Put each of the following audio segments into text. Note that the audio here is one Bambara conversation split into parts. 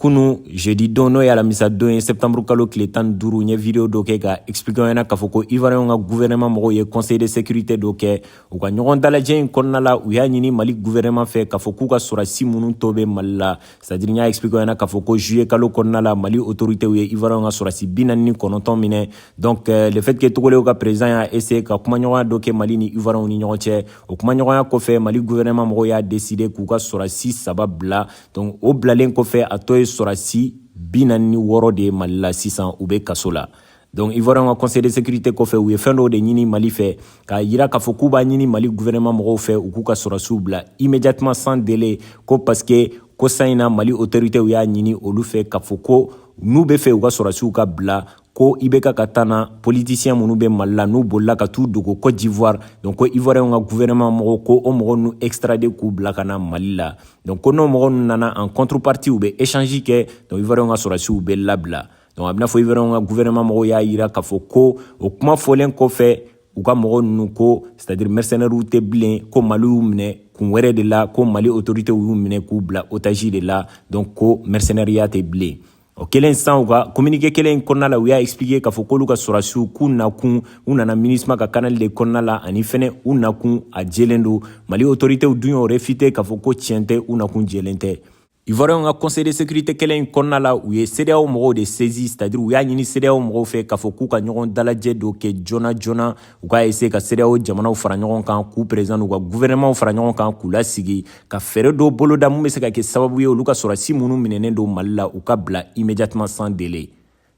kunu jeudi don n'o ye alamisa don ye septembre kalo tile tan ni duuru n ye video dɔ kɛ k'a explike ɲɛna k'a fɔ ko ivariyɛnw ka guvɛrɛnɛman mɔgɔw ye conseil de sécurité dɔ kɛ u ka ɲɔgɔn dalajɛ in kɔnɔna la u y'a ɲini mali guvɛrɛnɛman fɛ k'a fɔ k'u ka sɔrɔsi minnu tɔ bɛ mali la c'est à dire n y'a explike ɲɛna k'a fɔ ko juillet kalo kɔnɔna la mali autoritéw ye ivariyɛnw ka sɔrɔsi bi naani ni kɔnɔntɔn minɛ donc euh, le fait que togolew ka président y'a essaye ka kumaɲɔgɔnya dɔ kɛ mali ni ivariyɛnw ni ɲɔgɔn cɛ o kumaɲɔgɔnya kɔfɛ mali guvɛrɛnɛman mɔgɔw y'a décide k'u ka sɔrɔsi saba bila donc o bilalen kɔfɛ a tɔ ye sɔrɔsi bi naani ni wɔɔrɔ de ye mali la sisan u bɛ kaso la donc ivoiriyɛn ka conseil de sécurité kɔfɛ u ye fɛn dɔw de ɲini mali fɛ k'a yira k'a fɔ k'u b'a ɲini mali gouvernement mɔgɔw fɛ u k'u ka sɔrɔsiw bila immédiatement sans délai ko parce que ko san in na mali autorités y'a ɲini olu fɛ k'a fɔ ko n'u b'a fɛ u ka sɔrɔsiw ka bila ko IBK ka temps na politisiyɛn minnu bɛ mali la n'u bolila ka t'u dogo cote d'ivoire donc ko ivoiriyɛnw ka gouvernement mɔgɔw k'o mɔgɔ ninnu extrade k'u bila ka na mali la donc ko n'o mɔgɔ ninnu nana en contrepartie u bɛ échange kɛ donc ivoiriyɛnw ka sɔrɔsiw bɛ labila donc a b'i n'a fɔ ivoiriyɛnw ka gouvernement mɔgɔw y'a yira k'a fɔ ko o kuma fɔlen kɔfɛ u ka mɔgɔ ninnu ko c'est à dire mercenaires tɛ bilen ko mali y'u minɛ kun wɛrɛ de la ko mali autorité y'u minɛ k'u bila otage de la donc ko mercenaires ya tɛ bilen o kɛlen san u ka kominike kelen in kɔnɔna la u y'a explike k'a fɔ k'olu ka sɔrasiw k'u nakun u nana minusma ka kanali de kɔnɔna la ani fɛnɛ u nakun a jelen don mali otoritew dun y'o refite k'a fɔ ko tiɲɛ tɛ u nakun jelen tɛ ivoiriyɛnw ka conseil de sécurité kɛlen in kɔnɔna la u ye sedeyaw mɔgɔw de saisi c'est à dire u y'a ɲini sedeyaw mɔgɔw fɛ k'a fɔ k'u ka ɲɔgɔn dalajɛ dɔ kɛ joona joona u k'a ese ka sedeyaw jamanaw fara ɲɔgɔn kan k'u perezan n'u ka guvɛnɛmaw fara ɲɔgɔn kan k'u lasigi ka fɛɛrɛ dɔw boloda min bɛ se ka kɛ sababu ye olu ka sɔrɔsi minnu minɛnen don mali la u ka bila immédiatement sans délai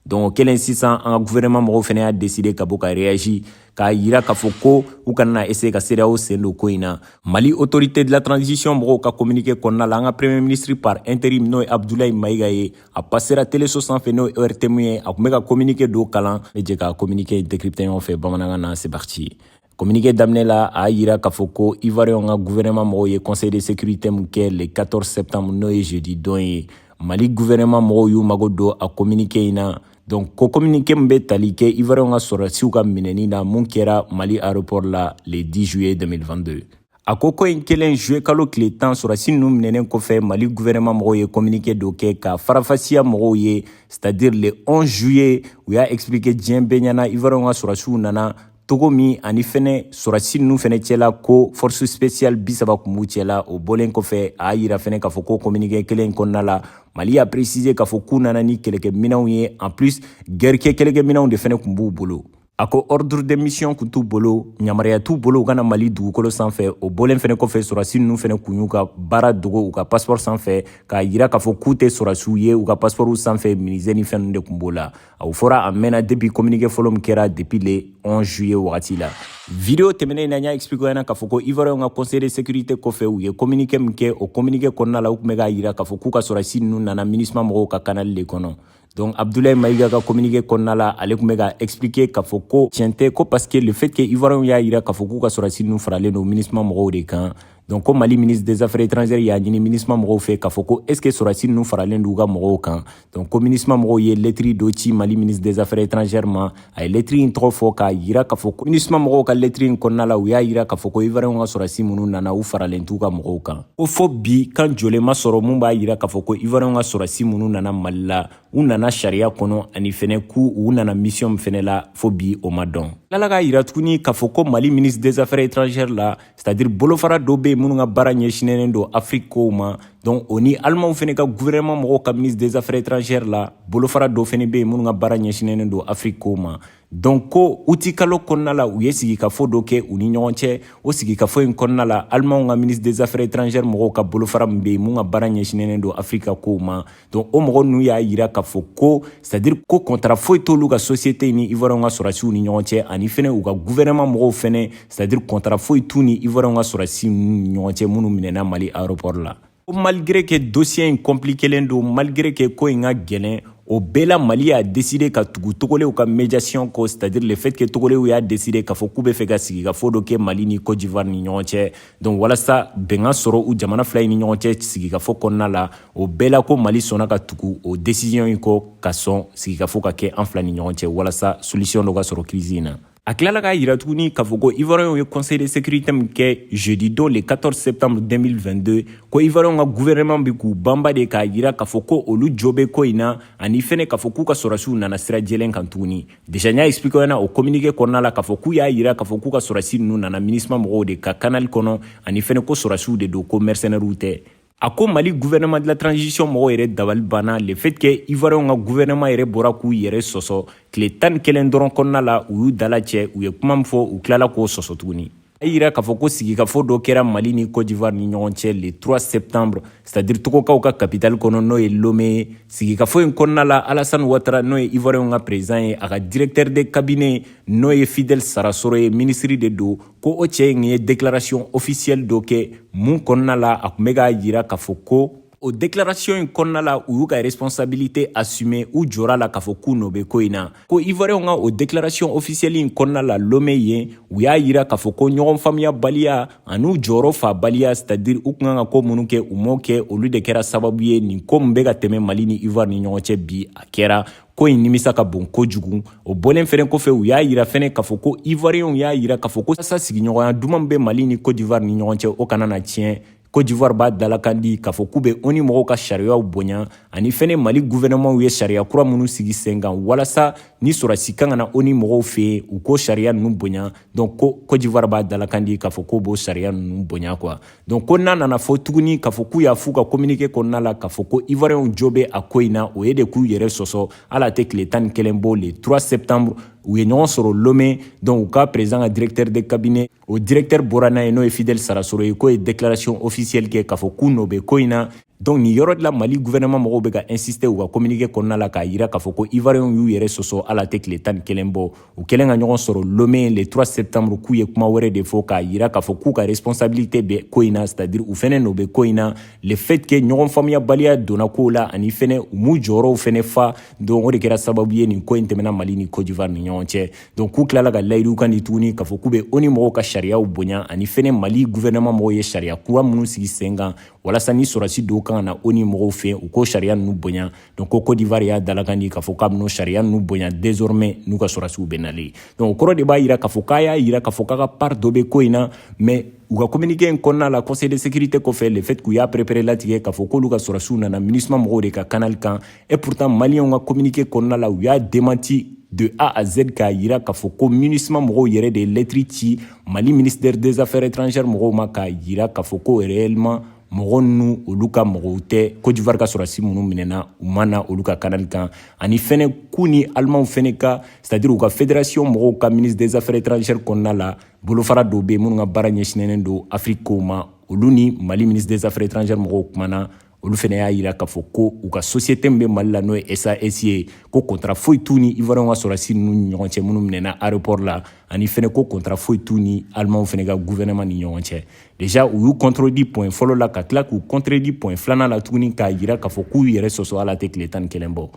donc o kɛlen sisan an ka guvɛrɛnɛma mɔgɔw fana y'a deside ka bɔ ka reyaji k'a yira k'a fɔ ko u kana ese ka sedeyaw sen don ko in na mali autorité de la transition mɔgɔw ka communiqué kɔnɔna la an ka premier ministre par interim n'o ye abdulayi mayiga ye a pasera teleso sanfɛ n'o ye ortm ye a tun bɛ ka communiqué dɔ kalan an bɛ jɛ ka communiqué décrypté ɲɔgɔn fɛ bamanankan na c'est parti Kominike daminɛ la a y'a jira k'a fɔ ko ivoiriyɛnw ka guvɛrɛnɛma mɔgɔw ye conseil de sécurité min kɛ le 14 septembre n'o ye jeudi don ye mali guvɛrɛnɛma mɔgɔw y'u mago don a kominike in na donc ko kominike min bɛ tali kɛ ivoiriyɛnw ka sɔrɔdasiw ka minɛni na min kɛra mali aéroport la le 10 juillet 2022 a ko ko in kɛlen juillet kalo tile tan sɔrɔdasi ninnu minɛnen kɔfɛ mali guvɛrɛnɛma mɔgɔw ye kominike dɔ kɛ k'a faranfasiya mɔgɔw ye c'est à dire le 11 juillet u y'a expliquer diɲɛ bɛɛ ɲɛna ivoiriyɛnw ka sɔrɔdasiw nana cogo min ani fɛnɛ sɔrɔsi ninnu fɛnɛ cɛla ko force spéciale bi saba kun b'u cɛla o bɔlen kɔfɛ a y'a yira fɛnɛ k'a fɔ ko communiqué kelen in kɔnɔna la mali y'a préciser k'a fɔ k'u nana ni kɛlɛkɛminɛnw ye en plus gɛri kɛ kɛlɛkɛminɛnw de fɛnɛ kun b'u bolo a ko ordre de mission kun t'u bolo yamaruya t'u bolo u ka na mali dugukolo sanfɛ o bɔlen fɛnɛ kɔfɛ sɔrɔsi ninnu fɛnɛ kun y'u ka baara dogo u ka paspɔrɔ sanfɛ k'a yira k'a fɔ k'u tɛ sɔrɔsiw ye u ka paspɔrɔw sanfɛ menuisier ni fɛn ninnu de kun b'o la A o fɔra a mɛnna depuis communiqué fɔlɔ min kɛra depuis le 11 juillet wagati la video tɛmɛnen in na n y'a expliquer ɲɛna k'a fɔ ko ivoiriyɛnw ka conseil de sécurité kɔfɛ u ye communiqué min kɛ o communiqué kɔnɔna la u tun bɛ k'a jira k'a fɔ k'u ka sɔrɔdasi ninnu nana minusma mɔgɔw ka kanali de kɔnɔ donc abdoulaye maïga ka communiqué kɔnɔna la ale tun bɛ k'a expliquer k'a fɔ ko tiɲɛ tɛ ko parce que le fait que ivoiriyɛnw y'a jira k'a fɔ k'u ka sɔrɔdasi ninnu faralen don minusma mɔgɔw de kan donc ko mali ministre des affaires étrangères y'a ɲini minusma mɔgɔw fɛ k'a fɔ ko est ce que sɔrɔdasi ninnu faralen d'u ka mɔgɔw kan donc ko minusma mɔgɔw ye lɛtiri dɔ ci mali ministre des affaires étrangères ma a ye lɛtiri in tɔgɔ fɔ k'a yira k'a fɔ ko minusma mɔgɔw ka lɛtiri in kɔnɔna la u y'a yira k'a fɔ ko ivariyɛnw ka sɔrɔdasi minnu nana u faralen t'u ka mɔgɔw kan ko fo bi kan jɛlen ma sɔrɔ min b'a yira k'a fɔ ko ivariyɛnw ka sɔrɔdasi minnu nana mali la u nana sariya kɔnɔ ani fɛnɛ k'u u nana misiyɔn min fɛnɛ la fo bi o ma dɔn a tilala k'a yira tuguni k'a fɔ ko mali ministre des affaires étrangères la c'est-à-dire bolofara dɔ bɛ yen minnu ka baara ɲɛsinnen don afiriki kow ma donc o ni alimanw fana ka gouvernement mɔgɔw ka ministre des affaires étrangères la bolofara dɔ fana bɛ yen minnu ka baara ɲɛsinnen don afiriki kow ma donc ko utikalo kɔnɔna la u ye sigikafo dɔ kɛ u ni ɲɔgɔn cɛ o sigikafo in kɔnɔna la alimanw ka ministre des affaires étrangères mɔgɔw ka bolofara min bɛ yen min ka baara ɲɛsinnen don afiriki ka kow ma donc o mɔgɔ ninnu y'a yira k'a fɔ ko c'est-à-dire ko kɔntara foyi t'olu ka sosiyete ni ivoiriyɛnw ka sɔrɔdasiw ni ɲɔgɔn cɛ ani fɛnɛ u ka guvɛrɛnɛman mɔgɔw fɛnɛ c'est-à-dire kɔntara foyi t'u ni ivoiriyɛnw ka sɔrɔdasi ni ɲɔgɔn cɛ minnu minɛna mali aéroport la ko malgré que dossier in compliquelen don malgré que ko in ka gɛlɛn o bɛɛ la mali y'a deside ka tugu togolew ka médiation kɔ c'est-à-dire le fait que togolew y'a deside k'a fɔ k'u bɛ fɛ ka sigikafo dɔ kɛ mali ni cote d'ivoire ni ɲɔgɔn cɛ donc walasa bɛn ka sɔrɔ u jamana fila ni ɲɔgɔn cɛ sigikafo kɔnɔna la o bɛɛ la ko mali sɔnna ka tugu o desisiyɔn in kɔ ka sɔn sigikafo ka kɛ an fila ni ɲɔgɔn cɛ walasa solisiyɔn dɔ ka sɔrɔ kirisi in na a tilala k'a yira tuguni k'a fɔ ko ivoiriyɛnw ye conseil de sécurité min kɛ jeudi don le 14 septembre 2022 ko ivoiriyɛnw ka gouvernement bɛ k'u banba de k'a yira k'a fɔ ko olu jo bɛ ko in na ani fɛnɛ k'a fɔ k'u ka sɔrɔsiw nana sira jɛlen kan tuguni Deja n y'a expliquer aw ɲɛna o communiqué kɔnɔna la k'a fɔ k'u y'a yira k'a fɔ k'u ka sɔrɔsi ninnu nana minusma mɔgɔw de ka kanali kɔnɔ ani fɛnɛ ko sɔrɔsiw de don ko mɛrisɛnɛriw tɛ a ko mali guvɛnɛma de la transition mɔgɔw yɛrɛ dabali banna le fait que ivoiriyɛnw ka guvɛnɛma yɛrɛ bɔra k'u yɛrɛ sɔsɔ tile tan ni kelen dɔrɔn kɔnɔna la u y'u dala cɛ u ye kuma min fɔ u tilala k'o sɔsɔ tuguni a yira k'a fɔ ko sigikafɔ dɔ kɛra mali ni cote d'ivoire ni ɲɔgɔn cɛ le 3 septembre c'est à dire togokaw ka capitale kɔnɔ n'o ye lome ye sigikafɔ in kɔnɔna la alasane watara n'o ye ivoiriyɛnw ka président ye a ka directeur de cabinet n'o ye fidel sarasoro ye minisiri de don ko o cɛ in ye déclaration officielle dɔ kɛ mun kɔnɔna la a tun bɛ k'a yira k'a fɔ ko o declaration in kɔnɔna la u y'u ka responsabilité assumer u jɔr'a la k'a fɔ k'u nɔ bɛ ko in na ko ivoiriyɛnw ka o declaration officielle in kɔnɔna la lome yen u y'a yira k'a fɔ ko ɲɔgɔn faamuyabaliya an'u jɔyɔrɔ faabaliya c'est à dire u kun kan ka ko minnu kɛ u m'o kɛ olu de kɛra sababu ye nin ko min bɛ ka tɛmɛ mali ni ivoire ni ɲɔgɔn cɛ bi a kɛra ko in nimisa ka bon kojugu o bɔlen fɛnɛ kɔfɛ u y'a yira fɛnɛ k'a fɔ ko ivoiriyɛnw y'a yira k'a fɔ ko yasa sigiɲɔgɔnya duman bɛ mali ni cote d'ivoire ni ɲɔgɔn cɛ o kana na tiɲɛ cote d'ivoire b'a dalakan di k'a fɔ k'u bɛ onu mɔgɔw ka sariyaw bonya ani fɛnɛ mali guvɛnɛmanw ye sariya kura minnu sigi sen kan walasa ni sɔrɔdasi kan ka na onu mɔgɔw fɛ yen u k'o sariya ninnu bonya donc ko cote d'ivoire b'a dalakan di k'a fɔ k'u b'o sariya ninnu bonya quoi donc ko n'a nana fɔ tuguni k'a fɔ k'u y'a f'u ka communiqué kɔnɔna la k'a fɔ ko ivoiriyɛnw jo bɛ a ko in na o ye de k'u yɛrɛ sɔsɔ hali a tɛ tile tan ni kelen bɔ le 3 septembre u ye ɲɔgɔn sɔrɔ lome donc u ka président ka directeur de cabinet o directeur bɔra n'a ye n'o ye Fidel Sarasoro ye k'o ye déclaration officielle kɛ k'a fɔ k'u nɔ bɛ ko in na donc nin yɔrɔ de la Mali gouvernement mɔgɔw bɛ ka insister u ka communiqué kɔnɔna la k'a jira k'a fɔ ko Ivoirienw y'u yɛrɛ sɔsɔ hali a tɛ tile tan ni kelen bɔ u kɛlen ka ɲɔgɔn sɔrɔ Lomé le 3 septembre k'u ye kuma wɛrɛ de fɔ k'a jira k'a fɔ k'u ka responsabilité bɛ ko in na c'est à dire u fɛnɛ nɔ bɛ ko in na le fait que ɲɔgɔn faamuyabaliya donna kow la ani fɛnɛ u m'u jɔyɔrɔw fɛnɛ fa donc o de kɛra sababu ye nin ko in tɛmɛna Mali ni Côte d'Ivoire ni ɲɔgɔn cɛ donc k'u tilala ka layidukan di tuguni k'a fɔ k'u bɛ onu mɔgɔw ka sariyaw bonya ani fɛnɛ mali guvɛrɛnɛman mɔgɔw ye sariya kura minnu sigi sen kan walasa ni sɔrɔsi dɔw kan ka na onu mɔgɔw fɛ u k'o sariya ninnu bonya donc ko kodivari y'a dalakan di k'a fɔ k'a bɛn'o sariya ninnu bonya désormais n'u ka sɔrɔsiw bɛ na yen donc o kɔrɔ de b'a yira k'a fɔ k'a y'a yira k'a fɔ k'a ka part dɔ bɛ ko in na mais u ka communiqué in kɔnɔna la conseil de sécurité kɔfɛ le fait k'u y'a perepere latigɛ k'a fɔ k'olu ka sɔrɔsiw nana minusma mɔgɔw de ka kanali kan Et pourtant, Maliens ka communiqué kɔnɔna la, u y'a démenti de A à Z k'a yira k'a fɔ ko MINUSMA mɔgɔw yɛrɛ de ye lɛtiri ci Mali ministère des affaires étrangères mɔgɔw ma k'a yira k'a fɔ ko réellement mɔgɔ ninnu olu ka mɔgɔw tɛ Côte d'Ivoire ka sɔrɔdasi minnu minɛna u ma na olu ka kanali kan ani fɛnɛ k'u ni Alimanw fɛnɛ ka c'est à dire u ka fédération mɔgɔw ka ministère des affaires étrangères kɔnɔna la bolofara dɔw bɛ yen minnu ka baara ɲɛsinnen don Afrique kow ma olu ni Mali ministère des affaires étrangères mɔgɔw kumana olu fɛnɛ y'a yira k'a fɔ ko u ka sosiyete min bɛ mali la n'o ye sas ye ko kɔntara foyi t'u ni ivoiriyɛnw ka sɔrɔsi ninnu ni ɲɔgɔn cɛ minnu minɛna aéroport la ani fɛnɛ ko kɔntara foyi t'u ni alimanw fɛnɛ ka guvɛrɛnɛman ni ɲɔgɔn cɛ deja u y'u kɔntredi pɔin fɔlɔ la ka tila k'u kɔntredi pɔin filanan la tuguni k'a jira k'a fɔ k'u yɛrɛ sɔsɔ hali a tɛ tile tan ni kelen bɔ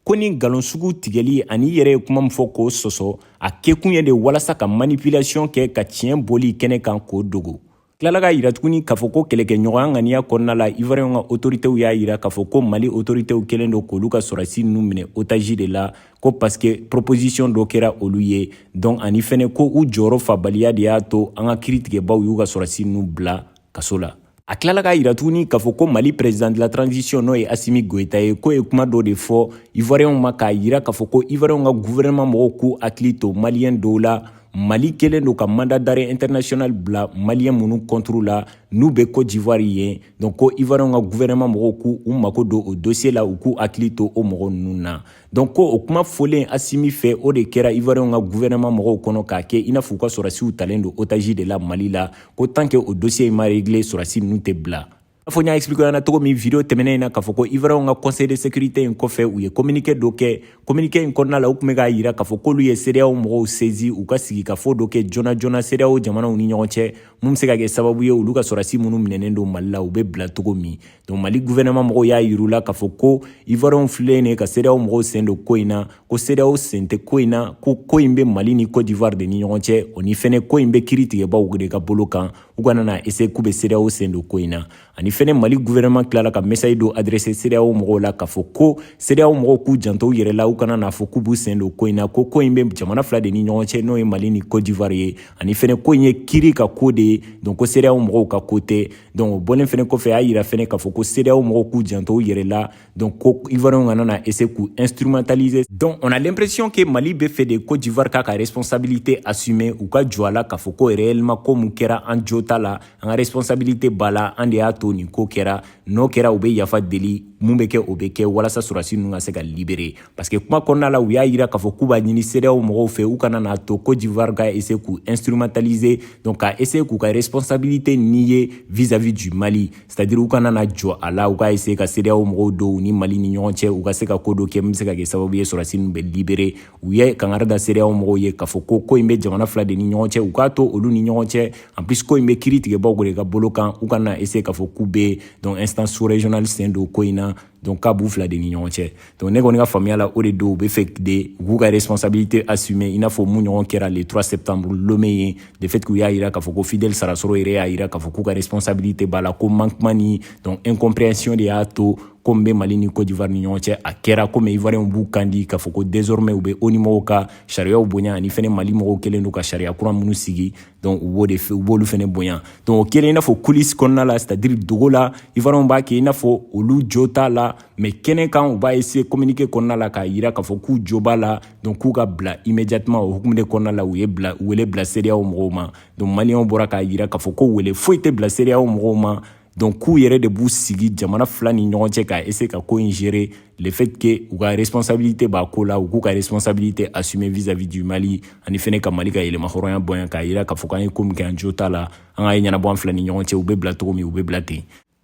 ko nin nkalon sugu tigɛli ani i yɛrɛ ye kuma min fɔ k'o sɔsɔ a kɛkun ye de walasa ka manipulation kɛ ka tiɲɛ bɔli kɛnɛ kan k'o dogo tilala k'a yira tuguni k'a fɔ ko kɛlɛkɛɲɔgɔnya ŋaniya kɔnɔna la ivoiriyɛnw ka otoritew y'a yira k'a fɔ ko mali otoritew kɛlen don k'olu ka sɔrɔsi ninnu minɛ otaji de la ko paske proposisiyɔn dɔ kɛra olu ye donc ani fɛnɛ ko u jɔyɔrɔ fabaliya de y'a to an ka kiri tigɛbaaw y'u ka sɔrɔsi ninnu bila kaso la a tilala k'a yira tuguni k'a fɔ ko mali perezidant la transition n'o ye asimi goyita ye k'o ye kuma dɔ de fɔ ivoiriyɛnw ma k'a yira k'a fɔ ko ivoiriyɛnw ka guvɛrɛnman mɔgɔw k'u hakili to maliyɛn dɔw la mali kɛlen don ka mandat d'arrêt international bila maliyɛn minnu kɔnturu la n'u bɛ cote d'ivoire yen donc ko ivoiriyɛnw ka guvɛrɛnɛman mɔgɔw k'u u mako don o dosiye la u k'u hakili to o mɔgɔ ninnu na donc ko o kuma fɔlen asimi fɛ o de kɛra ivoiriyɛnw ka guvɛrɛnɛman mɔgɔw kɔnɔ k'a kɛ i n'a fɔ u ka sɔrɔsiw talen don otaji de la mali la ko tant que o dosiye in ma regle sɔrɔsi ninnu tɛ bila A fɔ n y'a expliquer ɲɛna cogo min video tɛmɛnen in na k'a fɔ ko Ivoiriyɛnw ka conseil de sécurité in kɔfɛ u ye communiqué dɔ kɛ communiqué in kɔnɔna la u tun bɛ k'a jira k'a fɔ k'olu ye CEDEAO mɔgɔw saisi u ka sigikafo dɔ kɛ joona joona CEDEAO jamanaw ni ɲɔgɔn cɛ mun bɛ se ka kɛ sababu ye olu ka sɔrɔdasi minnu minɛnen don Mali la u bɛ bila cogo min donc Mali gouvernement mɔgɔw y'a yir'u la k'a fɔ ko Ivoiriyɛnw fililen de ka CEDEAO mɔgɔw sen don ko in na ko CEDEAO sen tɛ ko in na ko ko in bɛ Mali ni Cote d'Ivoire de ni ɲɔgɔn cɛ ani fɛnɛ ko in bɛ kiri tigɛbaaw de ka bolo kan u kana na essayer k'u bɛ cedeao sen don ko in na ani fɛnɛ mali guvɛrɛnɛman tilala ka message dɔ adrese cedeao mɔgɔw la k'a fɔ ko cedeao mɔgɔw k'u janto u yɛrɛ la u kana n'a fɔ k'u b'u sen don ko in na ko ko in bɛ jamana fila de ni ɲɔgɔn cɛ n'o ye mali ni cote d'ivoire ye ani fɛnɛ ko in ye kiri ka ko de ye donc ko cedeao mɔgɔw ka ko tɛ donc o bɔlen fɛnɛ kɔfɛ y'a yira fɛnɛ k'a fɔ ko cedeao mɔgɔw k'u janto u yɛrɛ la Donc, ko Ivoiriens kana na essayer k'u instrumentaliser. Donc, on a l'impression que Mali b'a fɛ de Côte d'Ivoire k'a ka responsabilité assumer u ka jɔ a la k'a fɔ ko réellement ko mun kɛra an jo t'a la, an ka responsabilité b'a la, an de y'a to nin ko kɛra, n'o kɛra u bɛ yafa deli mun bɛ kɛ o bɛ kɛ walasa sɔrɔdasi ninnu ka se ka libérer parce que kuma kɔnɔna la u y'a jira k'a fɔ k'u b'a ɲini CEDEAO mɔgɔw fɛ u kana n'a to Côte d'Ivoire ka essayer k'u instrumentaliser donc ka essayer k'u ka responsabilité nier vis-à-vis du Mali. c'est-à-dire u kana na jɔ a la u ka essayer ka cedeao mɔgɔw don u ni mali ni ɲɔgɔn cɛ u ka se ka ko dɔ kɛ min bɛ se ka kɛ sababu ye sɔrɔsi ninnu bɛ libere u ye kangari da cedeao mɔgɔw ye k'a fɔ ko ko in bɛ jamana fila de ni ɲɔgɔn cɛ u k'a to olu ni ɲɔgɔn cɛ en plus ko in bɛ kiri tigɛbaaw de ka bolo kan u kana na essayer k'a fɔ k'u bɛ donc instance sous-régionale sen don ko in na donc k'a b'u fila de ni ɲɔgɔn cɛ donc ne kɔni ka faamuya la o de don u bɛ fɛ de u k'u ka responsabilité assumer i n'a fɔ min ɲɔgɔn kɛra le 3 septembre lome yen le fait k'u y'a yira k'a fɔ ko fidèle sarasoro yɛrɛ y'a yira k'a fɔ k'u ka responsabilité b'a la ko manquement ni donc incompréhension de y'a to ko min bɛ mali ni cote d'ivoire ni ɲɔgɔn cɛ a kɛra komi ivoiriyɛnw b'u kan di k'a fɔ ko désormais u bɛ ONU mɔgɔw ka sariyaw bonya ani fɛnɛ mali mɔgɔw kɛlen don ka sariya kura minnu sigi donc u b'o de u b'olu fɛnɛ bonya donc o kɛlen i n'a fɔ coulisse kɔnɔna la c'est à dire dogo la ivoiriyɛnw b'a kɛ i n'a fɔ olu jo t'a la mais kɛnɛ kan u b'a essayer communiquer kɔnɔna la k'a yira k'a fɔ k'u jo b'a la donc k'u ka bila immédiatement o hukumu de kɔnɔna la u ye bila wele bila CEDEAO mɔgɔw ma donc maliyɛnw bɔra k'a yira k'a fɔ ko wele foyi tɛ bila CEDEAO mɔgɔw ma donc k'u yɛrɛ de b'u sigi jamana fila ni ɲɔgɔn cɛ ka essayer ka ko in gérer le fait que u ka responsabilité b'a ko la u k'u ka responsabilité assumer vis-à-vis du mali ani fɛnɛ ka mali ka yɛrɛmahɔrɔnya bonya k'a yira k'a fɔ k'an ye ko min kɛ an jo t'a la an k'a ɲɛnabɔ an fila ni ɲɔgɔn cɛ u bɛ bila togo min u bɛ bila ten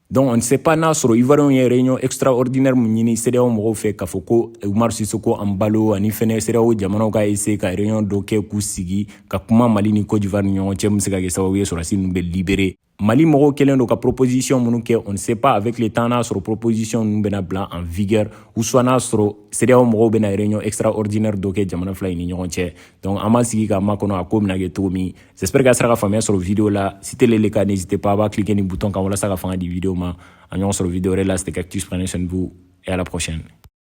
donc on ne sait pas n'a sɔrɔ ivoiriyɛnw ye réunion extraordinaire min ɲini CEDEAO mɔgɔw fɛ k'a fɔ ko umaro sissoco embalo ani fɛnɛ CEDEAO jamanaw ka essayer ka réunion dɔ kɛ k'u sigi ka kuma mali ni cote d'ivoire ni ɲɔgɔn cɛ min se ka kɛ sababu ye sɔrɔdasi ninnu bɛ libérer Mali mɔgɔw kɛlen don ka proposition minnu kɛ on ne sait pas avec le temps n'a sɔrɔ proposition ninnu bɛna bila en vigueur ou soit n'a sɔrɔ CEDEAO mɔgɔw bɛna réunion extraordinaire dɔ kɛ jamana fila in ni ɲɔgɔn cɛ donc an b'an sigi k'a makɔnɔ a ko bɛna kɛ cogo min j'espère que a sera ka faamuya sɔrɔ video la si tel est le cas n'hésitez pas a b'a cliquer ni bouton kan walasa ka fanga di video ma an bɛ ɲɔgɔn sɔrɔ video wɛrɛ la c'était Cactus prenez soin de vous et à la prochaine